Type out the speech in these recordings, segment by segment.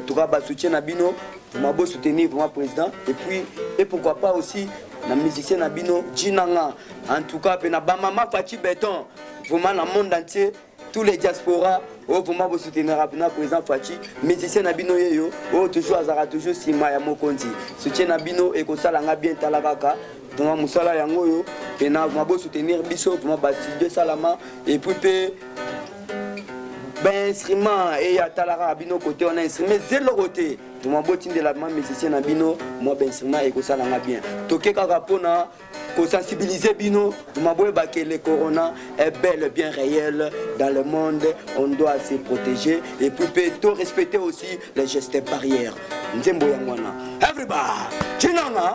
En tout cas, ba soutien na bino, vraiment beau soutenir vraiment président et puis et pourquoi pas aussi na musicien na bino Jinanga. En tout cas, pe na ba mama Fatih Beton, vraiment na monde entier, tous les diaspora oyo oh, vraiment bo soutenir na président Fatih, musicien na bino yeyo, oyo oh, toujours azara toujours sima ya mokonzi. Soutien na bino et ko sala nga bien talakaka. Vraiment musala yango yo, pe na vraiment bo soutenir biso, vraiment ba studio salama et puis pe ba instrument eye atala kaka bino kote wana instrument eza eloko te toma botindela ma musicien na bino mwa ba instrument ekosala nga bien toke kaka mpona kosensibilize bino toma boyeba ke le corona est bel bien réel dans le monde on doit se protéger et puis mpe to respecter aussi les gestes barrières nzembo yango wana everybody cinanga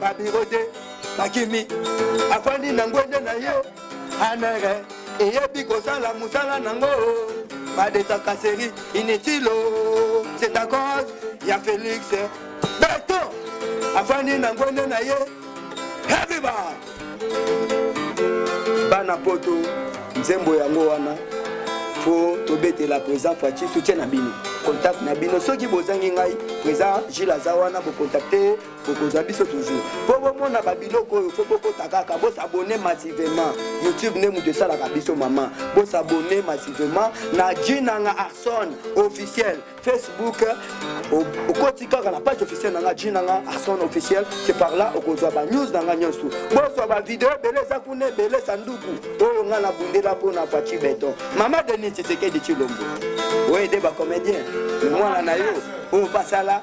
babiro de bakimi afandi na ngwende na yo anere eyebi kosala mosala nango badetaka seri initilo c'est à cause ya félix beton afandi na ngwende na ye hebiba bana poto nzembo yango wana po tobetela président faci soutien na bino contact na bino soki bozangi ngai président gile aza wana bokontakte bokozwa biso toujours mpo bomona babiloko oyo mpo bokota kaka bosabone massivement youtube nde moto esalaka biso mama bosabone massivement na jinanga arson officiel facebook okoti kaka na page officiel na nga jinanga arson officiel se par là okozwa banews na nga nyonso bozwa bavideo ebele eza kuna ebele sanduku oyo nga nabundela mpo na faci beton mama denis tshisekedi tshilombo oyo ede bacomédien mwana na yo oyo basala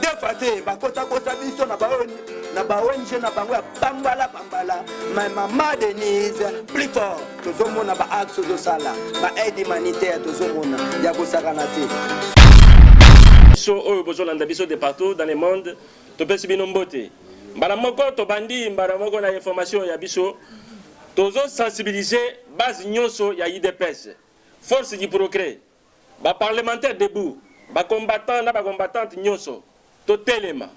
defa te bakotakota biso na baoni na baonge na bango ya bambala bambala ma mama denise plus fort tozomona baacte ozosala baaide humanitaire tozomona ya kosakana te biso oyo bozolanda biso de partout dans le monde topesi bino mbote mbala moko tobandi mbala moko na information ya biso tozosensibilize base nyonso ya idps force du progrès Ba parlementaires debout, ba combattants na ba combattantes nionso totelema,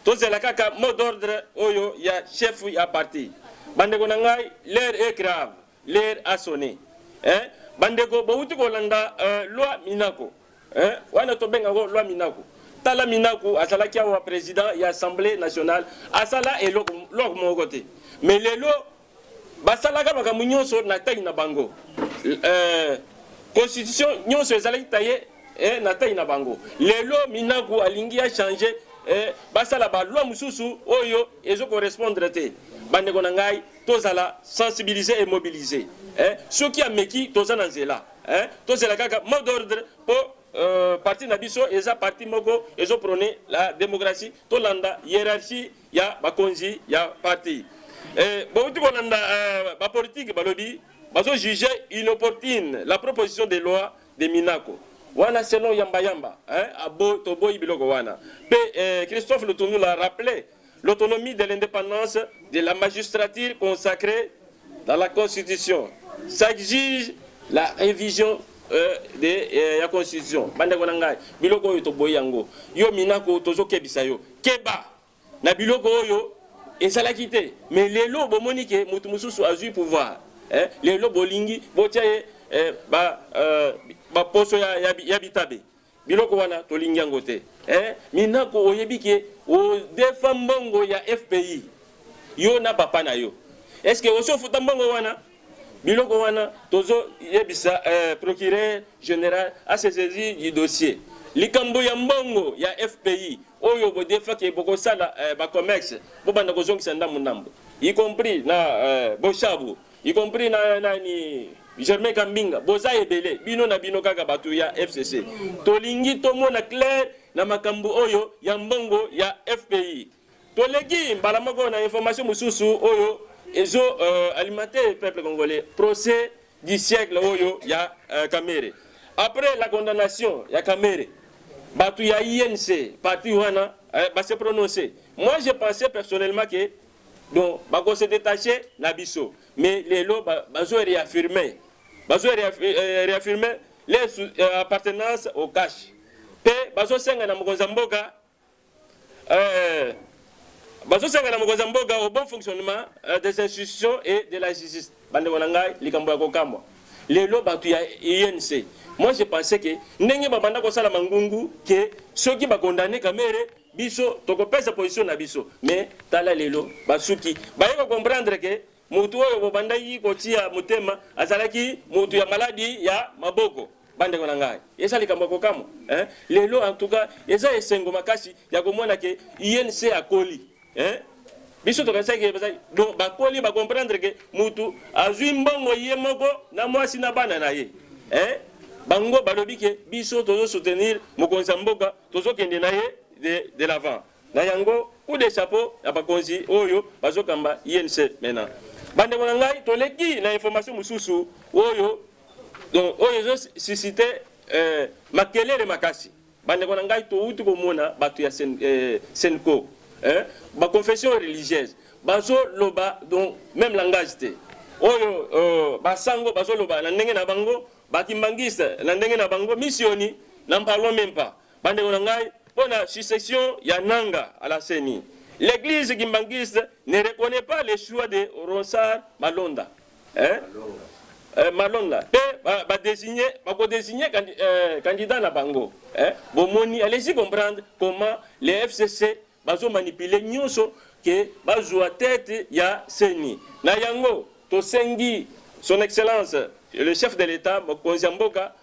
tozela kaka mot d'ordre oyo ya chef ya parti. Bandeko na ngai, l'heure est grave, l'heure a sonne eh! Bandeko bowuti kolanda loi Minaku eh, wana tobenga yango loi Minaku. Tala Minaku azalaki awa president ya assemblee nationale, asala eloko moko te mais lelo Basalaka makambo nyonso na taille na bango. Euh, constitution nyonso ezalaki taille eh, na taille na bango. Lelo Minaku alingi a changer eh, basala ba loi mususu oyo ezo correspondre te. Bandeko na ngai tozala sensibiliser et mobiliser. Eh, soki ameki toza na nzela. Eh, tozela kaka mot d'ordre po euh, parti na biso eza parti moko ezo prôner la démocratie. Tolanda hiérarchie ya bakonzi ya parti eh, bouti kolanda eh, bapolitike balobi bazo juge inopportune la proposition de loi de Minako wana selon yamba yamba hein, abo toboyi biloko wana pe eh, Christophe Lutundula rappelait l'autonomie de l'indépendance de la magistrature consacrée Dans la constitution, s'exige la revision euh, de, euh, ya constitution. Bandeko na ngai, biloko oyo toboyi yango. Yo Minaku, tozokebisa yo. Keba na biloko oyo ezalaki te. Mais lelo bomoni ke mutu mususu azui pouvoir. Eh, lelo bolingi botia ye eh, ba, euh, ba poso ya, ya, ya bitabe. Biloko wana tolingi yango te hein minaku oyebi ke o defa mbongo ya fpi yo na papa na yo est ce que osi ofuta mbongo wana biloko wana tozo yebisa eh, procureur general a se saisir du dossier likambo ya mbongo ya fpi oyo bodefa ke bokosala eh, ba commerce bobanda kozongisa ndambo ndambo y compris na eh, boshabu y compris na nani Germain Kambinga boza ebele bino na bino kaka batu ya FCC tolingi tomona clair na makambo oyo ya mbongo ya FPI toleki mbala moko na information mosusu oyo ezo uh, alimenter peuple congolais procès du siècle oyo ya uh, Kamere après la condamnation ya Kamere batu ya INC parti wana uh, eh, ba se prononcer moi je pensais personnellement que Donc bako se detacher na biso mais lelo bazo reaffirmer bazo euh, reaffirmer les euh, appartenance au cash pe bazo senga na mokonzi ya mboka euh, bazo senga na mokonzi ya mboka au bon fonctionnement euh, des institutions et de la justice bandeko na ngai likambo ya kokamwa lelo bato ya UNC moi je pensais que ndenge babanda kosala mangungu ke soki bakondane kamere Biso toko pesa position na biso mais tala lelo basuki baye ko comprendre que mutu oyo bo bandaki ko tia motema azalaki mutu ya maladi ya maboko. Ba ndeko na ngai eza likambo ya kokamwa hein lelo en tout cas eza esengo makasi ya komona que UNC akoli hein biso tokanisaki ke bazali donc bakoli ba comprendre que mutu azui mbongo ye moko na mwasi na bana na ye hein bango balobi ke biso tozo soutenir mokonzi ya mboka Tozo kende na ye de de l'avant na yango coup de chapeau na bakonzi oyo bazo kamba INC maintenant. Bandeko na ngai toleki na information mosusu oyo donc oyo ezo suscite eh, makelele makasi. Bandeko na ngai towuti komona bato ya sen, eh, Senco eh, ba confession religieuse bazo loba donc même langage te oyo euh, basango bazoloba na ndenge na bango Ba kimbanguiste na ndenge na bango misioni n'en parlons meme pas. Bandeko na ngai, mpo na succession ya Nanga à la CENI, l'eglise kimbanguiste ne reconnaît pas le choix de Ronsard Malonda, hein? Euh, Malonda mpe ba, ba désigne bako désigne candi, euh, candidat na bango eh? Bomoni, allez-y comprendre comment les FCC Bazo manipuler nionso que bazua tete ya ceni. Na yango tosengi son excellence le chef de l'etat, mokonzi ya mboka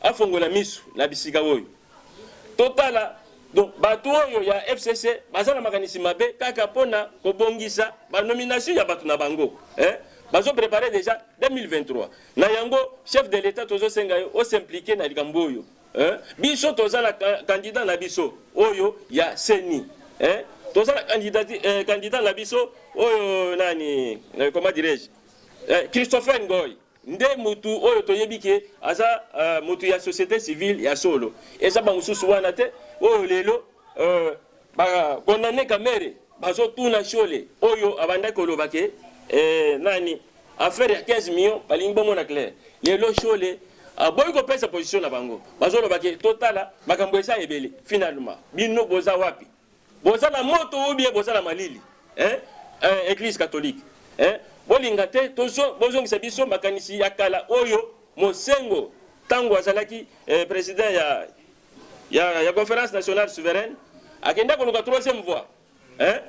afongola misu na bisika oyo totala Donc bato oyo ya FCC baza na makanisi mabe kaka pona kobongisa ba nomination ya bato na bango eh? bazo prepare deja 2023 na yango chef de l'etat tozo senga yo o s'impliquer na likambo oyo Hein? Biso toza na candidat na biso oyo ya CENI. Hein? Toza na candidat eh, candidat na biso oyo nani eh, comment dirais-je? Eh, Christopher Ngoy nde mutu oyo toyebi ke aza uh, mutu ya société civile ya solo. Eza ba mususu wana te oyo lelo uh, Ba condamne Kamerhe bazo tuna shole oyo abandaki koloba ke eh, nani affaire ya 15 millions balingi bomona clair. Lelo shole aboyi ah, kopesa position na bango, bazoloba ke totala makambo eza ebele. Finalement bino boza wapi? Boza na moto ou bien boza na malili eh? Eh, eglise catholique eh? Bolinga te tozo bozongisa biso makanisi ya kala oyo Mosengo tango azalaki eh, president ya ya, ya conference nationale souveraine akenda koluka troisième voie hein?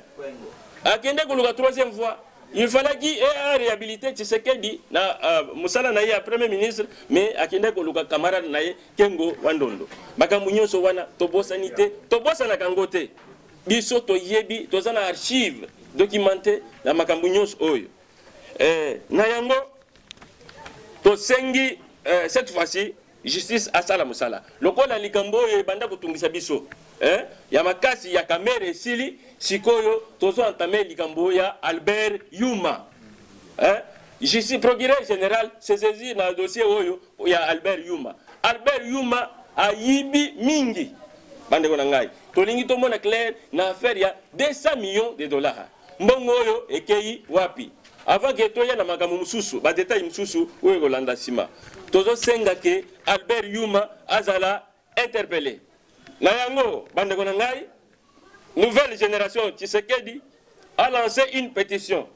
akenda koluka troisième voie il fallait qu'il ait réhabilité Tshisekedi na uh, musala na ye ya premier ministre mais akenda koluka camarade na ye Kengo Wandondo makambo nyonso wana tobosani te tobosanaka yango te biso toyebi toza na archive documente na makambo nyonso oyo eh, na yango tosengi eh, cette fois-ci Justice asala musala. Lokola likambo oyo ebanda kotungisa biso eh, ya makasi ya Kamerhe esili, sikoyo tozo entame likambo ya Albert Yuma eh, justice, procureur general se saisir na dossier oyo ya Albert Yuma. Albert Yuma ayibi mingi bandeko na ngai, tolingi tomona clair na affaire ya 200 millions de dollars. Mbongo oyo ekeyi wapi? Avant que toya na makambo mosusu, ba details mosusu oyo ekolanda sima, tozo senga que Albert Yuma azala interpelle. Na yango bandeko na ngai, nouvelle generation Tshisekedi a lance une petition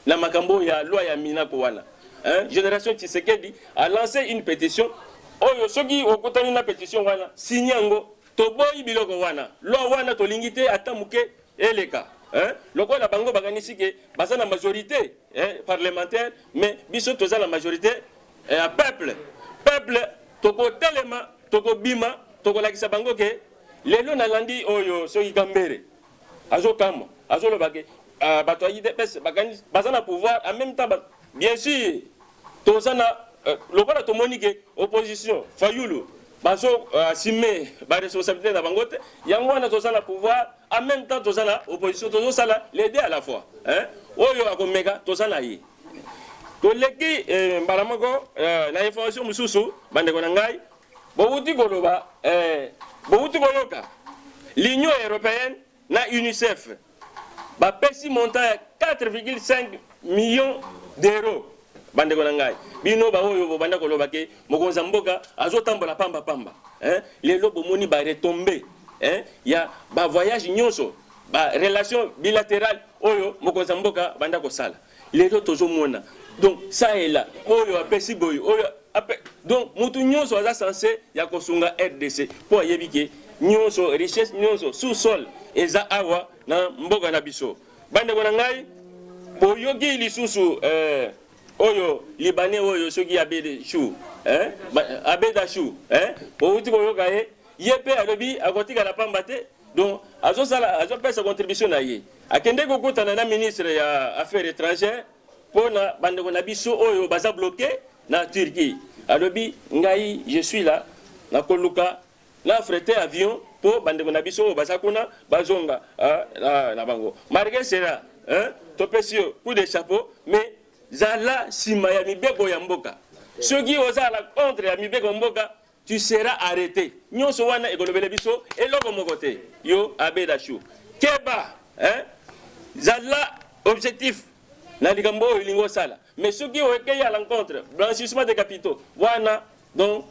na makambo ya loi ya Minaku wana. Hein? Generation Tshisekedi a lance une petition oyo soki okutani na petition wana, signe yango toboyi biloko wana loi wana tolingi te ata moke eleka hein lokola bango bakanisi ke baza na majorite hein, parlementaire mais biso toza na majorite eh, ya eh, peuple peuple tokotelema tokobima tokolakisa bango ke lelo nalandi oyo soki kambere azokamwa azolobake uh, ah, bato ya idps baza na pouvoir en même temps bien sûr Toza na lokola tomoni ke opposition Fayulu bazo assume ba responsabilite na bango te, yango wana toza na pouvoir en meme temps toza na opposition, tozo sala les deux à la fois hein. Oyo akomeka toza na ye. Toleki eh, mbala moko eh, na information mosusu bandeko na ngai bowuti koloba eh, bowuti koyoka l'Union européenne na UNICEF bapesi montant ya 4,5 millions d'euros. Bandeko na ngai, bino baoyo bobanda koloba ke mokonzi ya mboka azotambola pamba pamba, eh, lelo bomoni ba retombe eh, ya ba voyage nyonso ba relation bilaterale oyo mokonzi ya mboka banda kosala. Lelo tozo mona donc ça et là oyo apesi boye oyo ape donc mutu nionso aza sense ya kosunga rdc po ayebi ke nionso richesse nionso sous sol eza awa na mboka na biso bandeko na ngai boyoki lisusu eh, oyo libanais oyo soki abede chou eh, abeda chou eh, outi koyoka ye ye mpe alobi akotikala pamba te Donc azo sala azo pesa contribution na ye. Akende ko kutana na ministre ya affaires étrangères mpo na bandeko na biso oyo baza bloqué na Turquie. Alobi ngai je suis là na koluka na affrete avion mpo bandeko na biso oyo baza kuna bazonga ah, na, na bango. Malgré cela, hein, topesi yo coup de chapeau mais zala nsima ya mibeko ya mboka. Soki ozala contre ya mibeko mboka Tu seras arrete nionso wana ekolobele biso eloko moko te yo abe la chou keba hein zala objectif na likambo oyo olingi osala mais soki oekei à l'encontre blanchissement de capitaux wana donc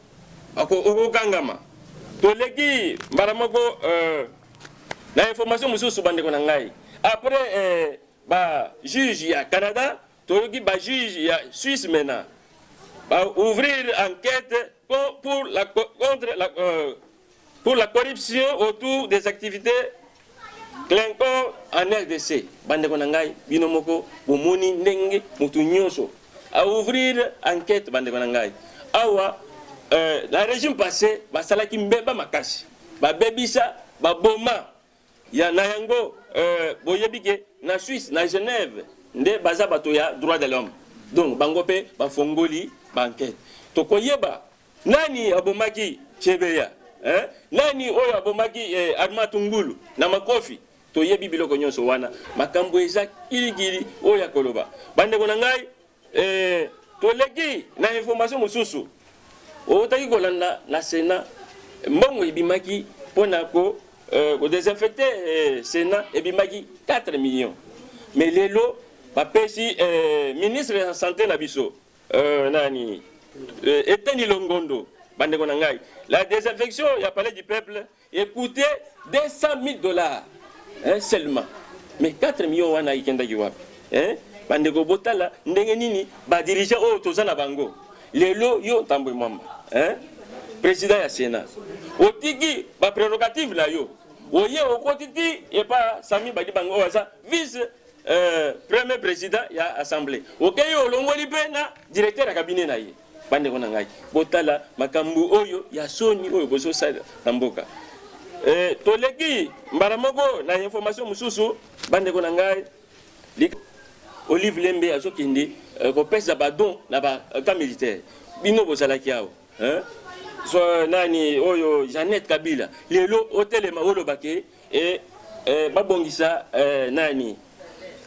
okokangama toleki mbala moko euh, na information mosusu bandeko na ngai après euh, ba juge ya canada Toyoki ba juges ya Suisse mena ba ouvrir enquete pour la contre la euh, pour la corruption autour des activités Clinton en RDC. Bandeko na ngai bino moko bomoni ndenge mutu nyonso a ouvrir enquête bandeko na ngai. Awa euh, la régime passé basalaki mbeba makasi. Babebisa, baboma Ya na yango euh, boyebi ke na Suisse na Genève nde baza bato ya droit de l'homme donc bango pe bafongoli ba enquête tokoyeba nani abomaki Chebeya eh? nani oyo abomaki eh, Arma Tungulu na makofi toyebi biloko nyonso wana makambo eza kilikili oyo akoloba bandeko na ngai Ee, toleki na information mosusu. Owutaki kolanda na Senat, mbongo ebimaki mpo na ko euh, ko desinfecter euh, Senat ebimaki 4 millions. Mais lelo bapesi euh, ministre ya sante na biso euh, nani euh, Eteni Longondo, bandeko na ngai, la desinfection ya palais du peuple E coute 200.000 dollars hein seulement mais 4 millions wana ekendaki wapi hein bandeko botala ndenge nini ba dirigeants oyo toza na bango lelo yo ntambwe mwamba hein président ya sénat otiki ba prérogatives na yo oye okoti ti epa sami badi bango oyo aza vice euh, premier président ya assemblée okeyi okay, olongoli mpe na directeur ya cabinet na ye Bandeko na ngai, botala makambo oyo ya soni oyo bozosala na mboka. E, toleki mbala moko na information mosusu, bandeko na ngai. Olive Lembe azokende eh, kopesa badon na ba eh, camp militaire. Bino bozalaki awa hein? So, nani oyo Jeannette Kabila lelo otelema oloba ke eh, eh, babongisa eh, nani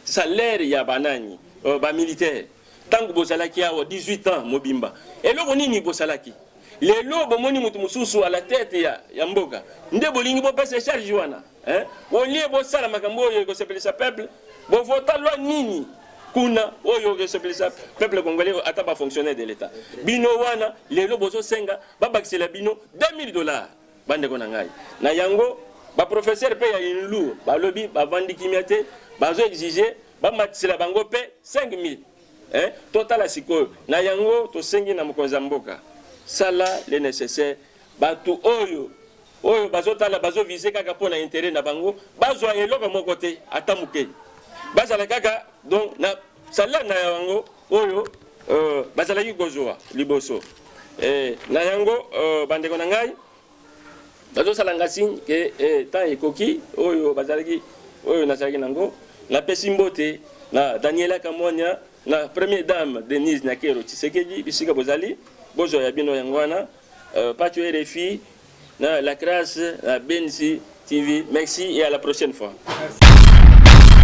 salaire ya banani oh, ba militaire Tangu bozalaki awa 18 ans mobimba eloko nini bosalaki? Lelo bomoni mutu mususu à la tete ya, ya mboka nde bolingi bopesa charge wana hein? Au lieu bosala makambo oyo ekosepelisa peuple, bovota loi nini kuna oyo ekosepelisa peuple congolais ata ba fonctionnaire de l'etat? Bino wana lelo bozosenga babakisela bino 2000 dollars Bandeko na ngai, na yango ba professeurs pe ya UNLU balobi bavandi kimia te, bazo exiger bamatisela bango pe 5000 eh, totala sikoyo. Na yango tosengi na mokonzi ya mboka, sala le necessaire batu oyo oyo bazotala bazo viser kaka mpo na interet na bango bazwa eloko moko te ata moke, bazala kaka donc na salaire na yango. oyo uh, bazalaki kozwa liboso eh, na yango uh, bandeko na ngai bazosala nga signe ke eh, temps ekoki oyo bazalaki oyo nazalaki nango napesi mbote na daniela kamwanya na première dame denise nyakero tshisekedi bisika bozali bozwa ya bino yango wana uh, pacho rfi na la crasse na benzi tv merci et à la prochaine fois merci.